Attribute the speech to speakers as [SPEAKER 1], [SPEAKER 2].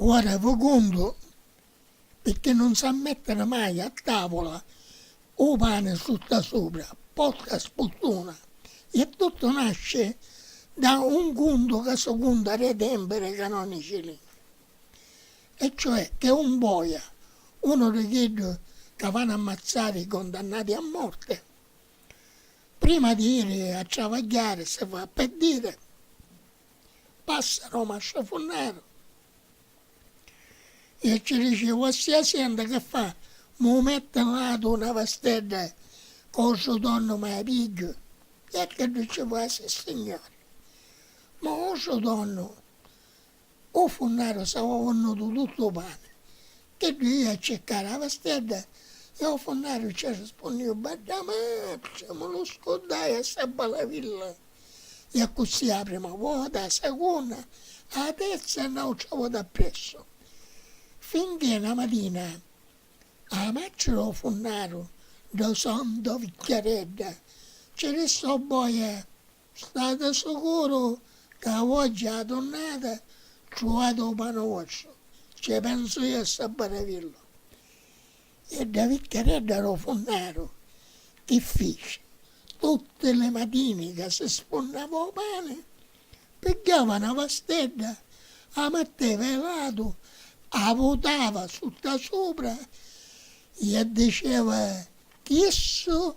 [SPEAKER 1] Ora vu cuntu pirchì nun sa mettiri mai a tavula u pani sutta supra, porta sputtuna e tuttu nasci da un cuntu ca su cuntu era i tempiri canonici. e cioè che un boia, unu di chiddu ca vanu a mazzari i condannati a morte, prima di iri a travagghiari si fa peddiri, passa no masciafunneru e ci dici, Vossia Sienta che fa, mu metti in latu una vastedda ca u so donnu mi a pigghiu? E a chiddu ci fa, Sissignori, ma u so donnu U funnaru s'avuavunnu du tuttu u pani. Chiddu ia a circari a vastiedda e u funnaru ci arrispunniu Badda matri, mu lu scuddai a ssa balavilla. E accussì a prima vota, a sagunda, a terza e nautra vota appressu. Finchè na matina a matri du funnaru, do sonno do vicchiaredda, ci rissò boia. Stati sicuru ca a vogghia a la tunnata truvati u pani vostru, cci pensu iu e Sabbaravillu. E dda vicchiaredda ru funnaru chi fici? Tutti li matini ca si sfunnava u pani, pigghiava na vastedda, a matteva i latu, a vutava sutta supra e diceva, Chissu